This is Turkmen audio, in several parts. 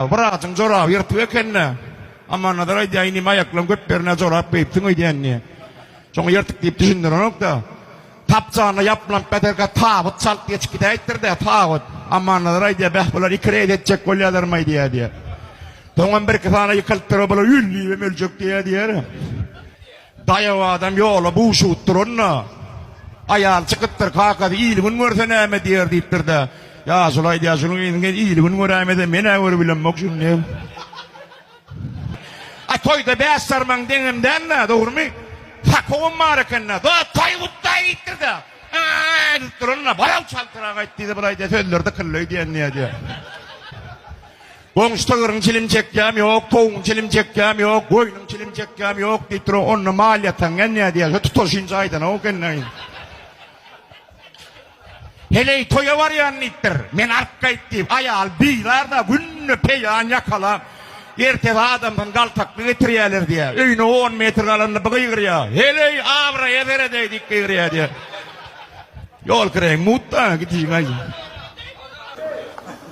Wraçyň joraby ýyrtyk ekennä. Ammannazar aýdýar, inim aýaklaň göt bernä jorap geýipsiň öýdýän diýýär. Şoňa ýyrtyk diýip düşündirenok-da. Tapjanyna ýapylanyp ýatarka tabyt çalt geçip gidäýipdir-dä, tabyt. Ammannazar aýdýar, beh, bular iki reýd etjek bolýalarmaý diýýär, diýýär. Soňam birki sany ýykylypdyr, bular ül diýibem öljek diýýär, diýýär. Daýaw adam ýola buşup duranda, aýal çykypdyr, Kakasy, il-gün görse näme diýer? diýipdir-de, Ýaşuly aýdýar, Şunuň yzyny geý, il-gün göräýmese, men-ä görübilemok şuny diýip. A toýda bäş sarmaň deňem däl-dä, dogrumy? Sakowam bar eken-dä, Da, taý gutdaý diýipdir-de, Ä-ä-ä edip duranda, Bar-ow, çaltrak aýt diýdi, Bulaý diýýär, sözleri dykyldaý diýen diýýär diýýär. Goňşy sygyryň çilim çekýäm ýok, towugyň çilim çekýäm ýok, goýnuň çilim çekýäm ýok diýip duran onda maliýe taň gelýär diýýär, tutaşynja aýdanok gelneýin. Heleý toýa barýan diýipdir. Men alyp gaýt diýip, aýal bizar-da günde peýan ýakalap, ertesi adamdan galtakly getirýärler diýýär. Öýüne on metr galanda bir gygyrýar, Heleý, abraýa seredäý diýip gygyrýar diýýär. Ýol kireýiň mut-da, gitjin gaýjy.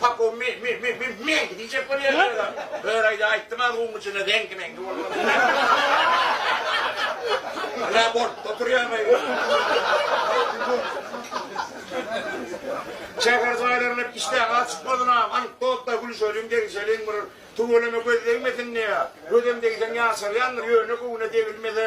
Pakow me-me-me-me-meňki diýjek bolýar özem. Öraýda aýtdym az guň içinde zeňki-meňki bolmaz. Ýa bolup oturýarmy? Şäher jaýlaryna işdäki az çykmazynam, anekdotlar gülüşeliň, degişeliň, bir tüweleme göz degmesin diýýär. Gözem degseň ýaşarýandyr, ýöne göwne degilmese,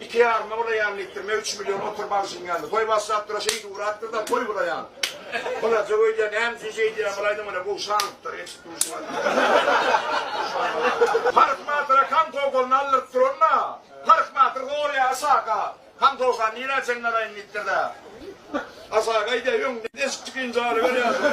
Iki ýaryma ulaýan litrime üç million oturyp alşym geldi. Goý başlap dur-a şeýdip ugrapdyr-da goý bulaýan. Bulaja öýdýän näme üçin şeýdýän bulaýdym ine bu şalypdyr eşit duşman. Parh batyra kan towsagyny aldyryp duran-da. Parh batyr gorýa Yshaka. Kan towsany nirä çenli alaýyn diýipdir-de. Yshak aýdýa öňünden deşik çykynyja alyber ýaşuly.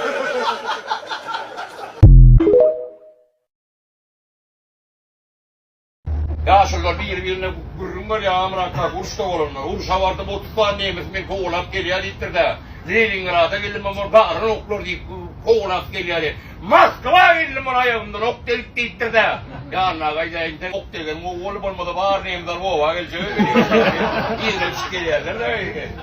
Ýaşulylar biri-birine gürrüň berýär, Amyr Akbak uruşda bolanlar. Urşa bardym, otuz sany nemes meni kowalap gelýär diýipdir-de, Leningrada geldim, olar bagran oklar diýip, kowalap gelýärdi. Moskwa geldim, ol aýagymdan ok degip diýipdir-de, Ýanyna gaýdaýyn, sen ok degen mowgol bolmasa, bar nemesler oba geljek-ä, welin, ýerine düşüp gelýärler-dä.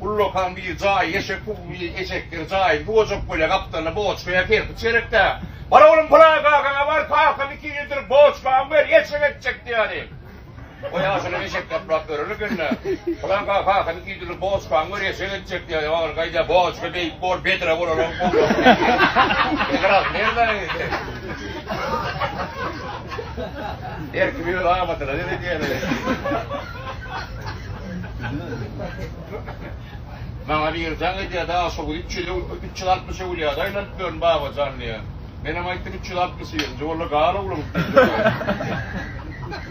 Ullakan bir jaýy eşek bu bir eşekdir jaýy bu ojak böle gapdalyny boçkaya kerpiç gerekdä bar oglum pylan kakaňa bar kakam iki ýyldyr boçkany ber eşek etjek diýýädi o ýaşuly eşek gaplap ýören ekendä pylan kaka kakam iki ýyldyr boçkany ber eşek etjek diýýädi ogly gaýda boçka beýik bor bedre bolalog her kim öz amadyna seredýädi. Maňa biri jaň edýär-de, A, şo gün üç ýüz, üç ýüz altmyş öwülýäde aýlanyp ýörün, Babajan, diýýär. Menem aýtdym, Üç ýüz altmyş ýyl. Nji boldy, gal, oglum, diýdim.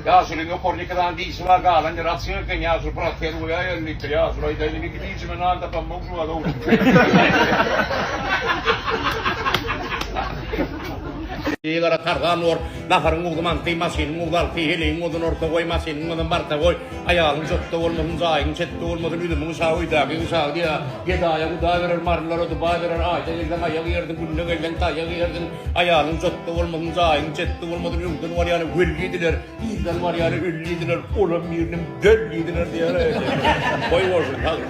Ýaşulyň ýokaryny iki sany dişi bar, galan ýeri açyk eken, ýaşuly protez goýaýerli, diýipdir. Ýaşuly aýdýar, Indi iki dişime nan tapamok şu wagt, oglum, diýipdir. Egara tarzan bor. Naharyň ugly manty, maşynyň ugly alty, heleýiň ozüni orta goý, maşynyň ozüni barta goý, aýalyň jotda bolmasyn, jaýyň çetde bolmasyn, üzümiň şagy, öýdäkiň şagy diýä. Gedaýa guda berer, marylara duba berer, aýda gelseň aýak ýersiň, günde gelseň taýak ýersiň, aýalyň jotda bolmasyn, jaýyň çetde bolmasyn, öňden barýana weli diler, yzdan barýana ölli diler, olam biriniň dölli diler diýýär-ä. Goý bolsun, sag.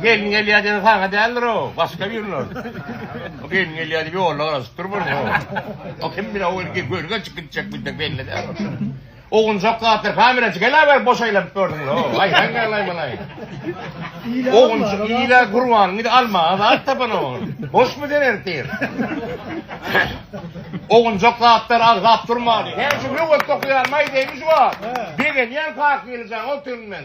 Gelin gelýär diýen saňa däldir o, başga birine. O gelin gelýär diýip ýolda garaşyp durmaz o. O kim bilen o erkek görgä çykyp gitjek biljek belli däl. Ogunjak zatlar kameracı gelaber boş aýlanyp gördüň lo aý sen gelaý melaý. Ogunjak ile gurban gidi alma azat tapan o. Boş mu sen ertir. Ogunjak zatlar agzap durma. Sen şu löwet okuyan maý demiş wa. Begenýän kak geljan o tün men.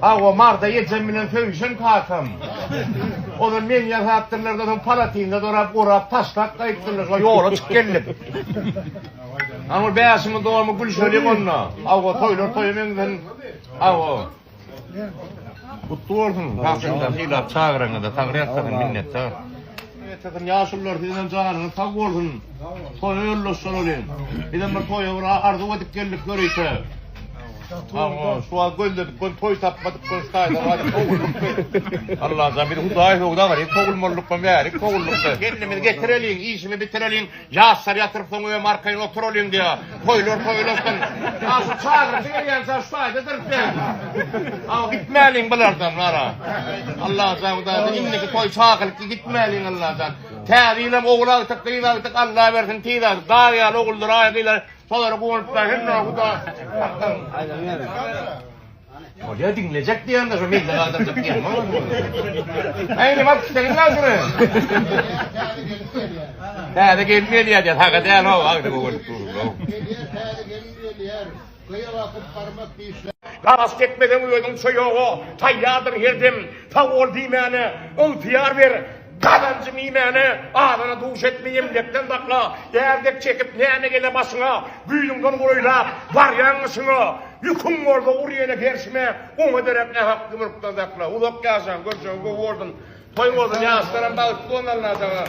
Hawa, Marda ejem bilen söýüşen kakam. Ozal meni ýasapdyrlar-da, soň palatynda dorap, orap, taşlap gaýypdyrlar, şo ýola çyk geldik. Ana ol bäşiňiň dogumy gülşelik onda. Hawa, toýlar toýa meňzän. Hawa. Gutly bolsun, kakam-da sylap çagyraňyza, sagry ýatsagyn, minnetdar. Etekin ýaşulylar siziň janyňyz sag bolsun. Toýa ýollaşjak welin. Bizem bir toýa bir arzuw edip geldik ýörite. Awa, şu wagt gözledik göni toý tapmadyk göni şaýda galyp sowuldykmy? Allajan bizi Hudaý söwda galyp sowulmalyk göni bärik sowuldykmy? Gelnimizi getireliň, işimi bitireliň. Ýaşlar ýatyrsoň öýem arkaýyn oturalyň diýýä. Toýlar toýlasyn. A şu çagyryjy gelýänçä şu taýda durup ýör. A gitmäliň bulardan wara. Allajan hudaýdan indiki toý çagylyk gitmäliň Allajan. Täze ýyl hem ogul agtyk gyz agtyk Alla bersin tiz agtyk. Dag ýaly oguldyr aý gyzlar. Şolara guwanyp bar hemme huda. Bolýa diňlejek diýende şu mende galdyrjak diýen bolmadymy? Aý nima istegiň bar şuny? Täze gelin gelýär diýen haga däl o agdy bu gün. Gelýär täze gelin gelýär. Gyýa bakyp barmak diýişler. Garas tekmeden özüň çoýoga taýýardyr her dem sag bol diýmäne ygtyýar ber gazanjym iýmäne azyna duş et meýemlekden sakla ýer dek çekip näme gele başyňa güýzüňden golaýlap barýaň gyşyňa Ýüküň bolsa ur ýene perşime, Oňa derek nähakly mülkden sakla. Uzak ýaşaň, görjegiň gowy bolsun, Toý bolsun, ýaşlaram bagtly bolsun Alla jaňa.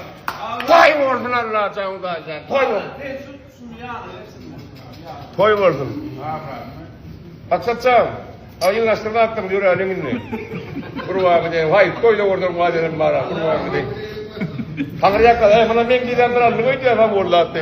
Toý bolsun Alla jaň daýzan, toý bolsun. Toý bolsun. Aksat jan, aýyňlaşdyryp atdyň, ýöräliň indi. Gurban gideýin, haýp, toýda görderin wadelerimi bara, gurban gideýin. Haňyrýakka, äý, muny meň diýlän bir alnyk öýdýär, haňurlatdy.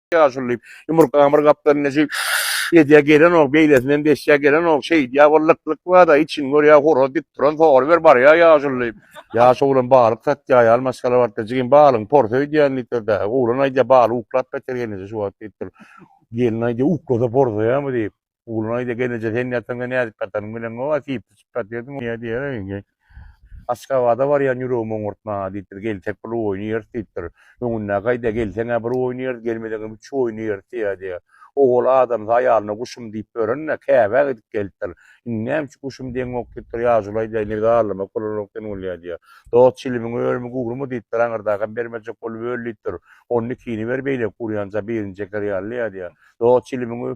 ýaşuly diýip, ýumurgamyr gapdan neji ýedýä gelenok, beýlesinem beşýä gelenok, şeýdýä bol lyk-lyk bar-da, içiňi görýä horaz dik duran sogry ber barýa ýaşuly diýip. Ýaş oglan balyk satýa, ýaly maşgala barka, jigim balygyň porsy öýdýän diýipdir-dä. Oglan aýdýa, baly uklap beter gelneje şu wagt diýipdir. Gelin aýdýa, uklasa porsaýamy diýip. Ogluna aýdýar, Gelneje sen ýataňda nädip ýatanyňy bileňok, a diýip, syçyp ýatyrdyň, ýa diýýär, indi Aşgabada barýan ýüregimi oňurtma, diýipdir, gelsek bir oýun ýeris, diýipdir. Öňündäki aýdýar, Gelseň-ä bir oýun ýeris, gelmeseňem üç oýun ýeris diýýär, diýýär. Ogul adamsy aýalyna guşum diýip ýören-de, Käbä gidip gelipdir. Indi näme üçin guşum diýeňok, diýipdir, Ýaşuly aýdýar, Indi biz arlamak bolanok sen bolýa, diýýär. Dost çilimiň örümi gurmy, diýipdir, aňyrdakam bermejek bolup öl, diýipdir. Onda ikini ber beýleki gurýança birini çeker ýaly, ýa diýýär. Dost çilimiň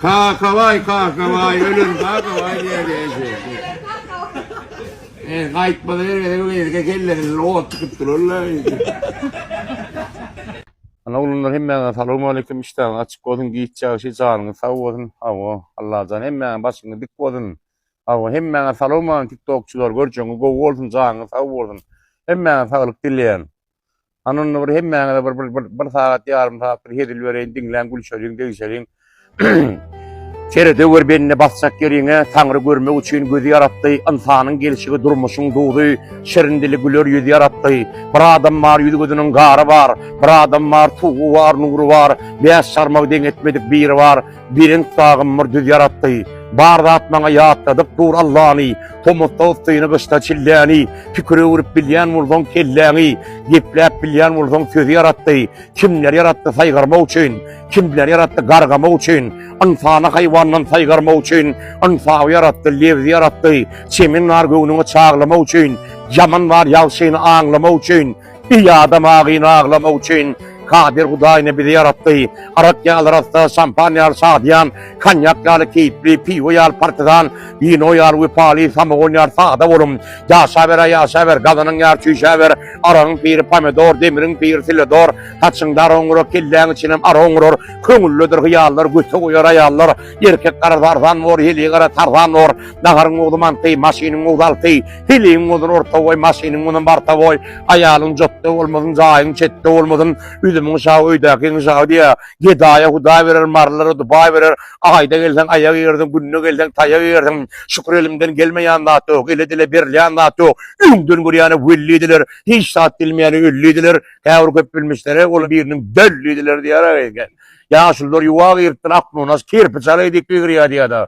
Kakabaý, Kakabaý, ölen Kakabaý diýerdi eje. Eý, gaýtmaz ýere bu gezek kellesini ot tutup durarlar eje. Ana oglanlar hemmäňize salowmaleýkim işdäňiz açyk bolsun giç ýagşy janyňyz sag bolsun hawa Allajan hemmäňiň başyňyz dik bolsun hawa hemmäňe salowmaleýkim tiktokçylar görjeňiz gowy bolsun janyňyz sag bolsun hemmäňe saglyk dileýän. Anonda bir hemmäňize bir bir bir bir sagat ýarym sagat bir hezil bereýin, diňläň, gülşeliň, degişeliň. Seredeweri bende basjak ýeriňe, Taňry görmek üçin gözi ýaratdy, ynsanyň gelşigi durmuşyň duzy, şirin dili güler ýüzi ýaratdy. Bir adam bar ýüz-gözüniň gary bar, bir adam bar suwy bar, nury bar, bäş çarmagy deň etmedik biri bar. Birenk bagym bir düz ýaratdy. Bar zat maňa ýatladyp dur Allany. Tomusda yssyny, gyşda çilläni. Pikir öwrüp bilýän bolsaň kelläňi. Gepläp bilýän bolsaň sözi ýaratdy. Kimler ýaratdy saýgarmak üçin. Kimler ýaratdy gargamak üçin. Ynsany haýwandan saýgarmak üçin. Ynsaby ýaratdy, lebzi ýaratdy. Çemen bar göwnüňi çaglamak üçin. Ýaman bar ýagşyny aňlamak üçin. Eý adam agyny aglamak üçin Kadir Hudaýyny bizi ýaratdy. Arak ýaly rassa, şampan ýaly şadyýan, konýak ýaly keýpli, piwo ýaly partizan, wino ýaly wepaly, samogon ýaly sada bolum. Ýaşaber-ä ýaşaber, gazanyň ýar çüýşäber, aragyň piri pomidor, demiriň piri siledor, saçyňda ara oňurar, kelläň içinem ara oňurar, köňüllidir hyýallar, göte goýar aýallar, erkek gara zarzan bor, heleý gara tarzan bor, naharyň ogly manty, maşynyň ogly alty, Hiliň bolsun orta boý, maşynyň bolsun barta boý, aýalyň jotda bolmasyn, jaýyň çetde bolmasyn, üzümiň şaby, öýdäkiň şaby diýýär. Gedaýa hudaý berer, marylara dubaý berer. Aýda gelseň aýak egersiň, günde gelseň taýak egersiň. Şükür elimden gelmeýän zat ýok, ele-dile berilýän zat ýok. Öňden görýäne weli diler, hiç zat bilmeýäne ölli diler. Käbir köpbilmişlere ol biriniň dölli diler diýýärler eken. Ýaşulular ýuwa giripdir, aknunas kerpiç alaýdy, ýigirýär diýýär-de.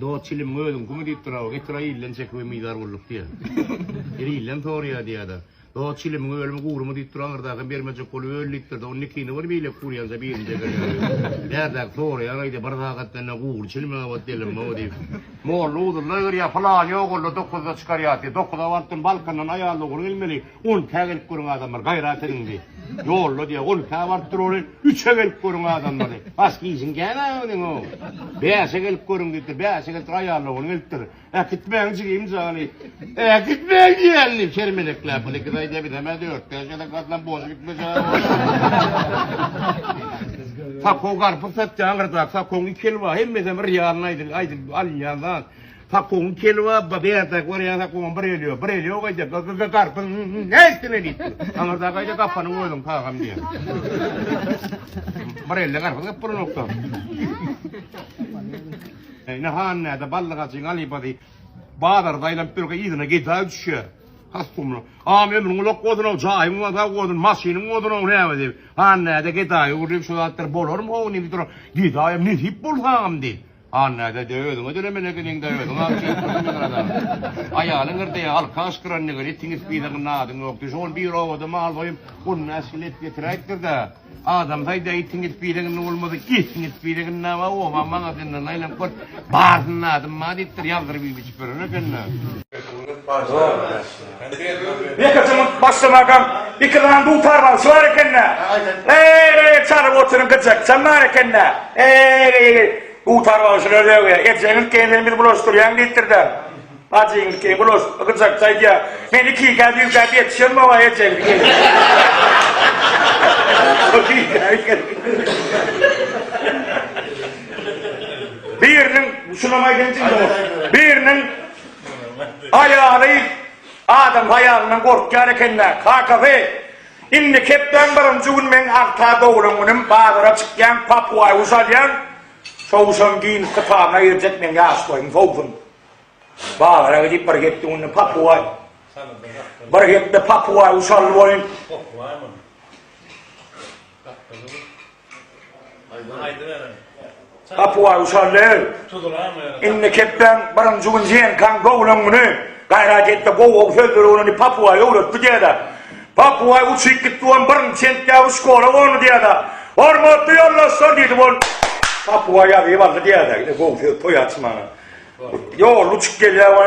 Dost çilimiň özüň kimi diýip duraba getir aýilden çek we mydar gulluk diýä. Ir ilden sorýa diýädä. Dost çilimiň ölümi gurymy diýip dur aňyrdakam bermejek bolup öl diýip durda ony nikini bir beýlek gurýanja birinji eberýär. Bärdäki soraýan aýdýa bir sagat menden gury çilimiň abat delemmi diýip. Molla uzynda ýörýä pylany ýogaldy dokuzda çykarýa diýip dokuza barypdym balkandan aýal dogry gelmeli. On ikä gelip görüň adamlar, gaýrat ediň diý. Ýolda diýýär, on ikä baryp durary, üçe gelip görüň adamlary. Bas gijiň gämä öňüňo. Bäşe gelip görüň diýipdir. Bäşe gelipdir, aýallagony gelipdir. Äkitmäň jigim jany. Äkitmäň diýýän diýip, çermelekläp, Ol iki zaý diýýär, biz hem-ä dört-bäş gezek gatlap boş gitmejek. Sakow garpyz satýan gyrdap, sakowyň iki eli bar, hemmesem bir ýalyny aýdylyp alynýan zat. Pakuň kelwabba bärde görýän pakuň bir elýo, bir elýo gaýda garpyň näsine diýip dur. Aňyrda gaýda gapanyň özüň pagam diýýär. Bir elde garpyz gap bolanokda. Ine han näde ballygajyň alybady bazarda aýlanyp ýörkä yzyna geda düşýär. Hastumly. Am ömrüň ulak bolsun, o jaýyň wada bolsun, maşynyň bolsun, o näme diýip. Han näde gedaýy urýar, şu zatlar bolarmy, o diýip dur. Gedaýam nesip bolsam diýip. An näde de özüňe dölemele geliňda özüň aň çekip dursuň meň azabymy. Aýalyň yrdaýa alka aşgyran degen itiň ispide gynna adyň ýok düş ol bir obada mal soýup guluna äşgile et getiräýipdirda adam saýda itiň ispide gynna bolmasa itiň ispide gynna ba oba magazyndan aýlanyp gör barsynda adym ba diýipdir ýazdyryp iýip içip ýören ekenda. Ýok. Ýeke jyňyp başlamagam iki sany dutar bagşy bar eken-dä. Eý-eý çalyp oturyň gyjak çal bar eken-dä. Eý-eý dutar bagşylar döwýä. Ejeňiz kene bizi bulaşdyrýaň diýipdir-dä. Bajyňyz kene bulaş gyjakçy aýdýa. Men iki gäp üç gäp ýetişen boga ejeňiz kene. Biriniň şulam aýdaýyn jigim. Biriniň Aýaly, Adam haýalyndan gorkýar eken-dä, kakasy. Indi hepdäň birinji gün meň agta doglan günüm, bazara çykýan, papuaý guş alýan, şo guşam giň kytabyna girjek meň ýaş boýum sowsun. Bazara gidip bir hepde günde papuaý, bir hepde papuaý guş aldy boýun. Gapuwa Usallew, indi kepden birinji gün Zenkan gowlan güni gaýrat etdi, gow-gow sözleri bilen ony Papuwa öwretdi diýýär-de. Papuwa uçyp gitdi we birinji sentýabr şkola gondy diýýär-de. Hormatly ýoldaşlar! diýdi, ol Papuwa ýazyp aldy diýýär-de, gow söz, toý açmana. Ýolly uçup gelýär we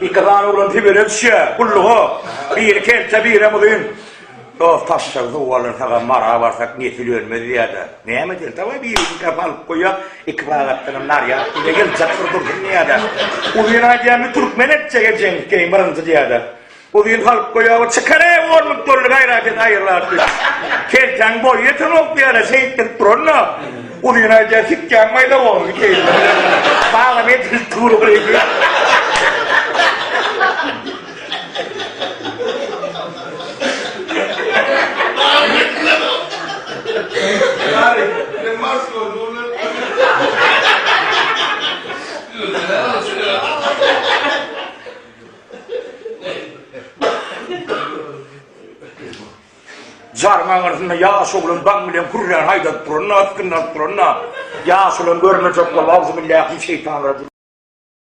Iki sany oglan Sibire düşýär, gulluga. Biri kelte, birem uzyn. Dost taşşagy suwa alan saga mara barsak, nesil ölmez diýýär-de. Näme edeýin, dawaý, birini kä salyp goýýas, iki sagatdanam narýad ile geljek bir dursun diýýär-de. Uzyn aýdýar, Türkmen etjege jeňňikeýin birinji diýýär-de. Uzyn halk boýagy çykar-ä ornup durly gaýrat et aýyrlap düz. Keltäň boýy ýetenok diýara şeýtdirip duran-da. Uzyn aýdýar sikýäň maýda gowymy keýp. Baglam edil turugyny. Jaryň aňyrsynda ýaş oglan baň bilen hürrän haýdadyp duranda, ysgyndalyp duranda, ýaş olam görmejek bolup, Auzubillahi min şeýtanir rajim.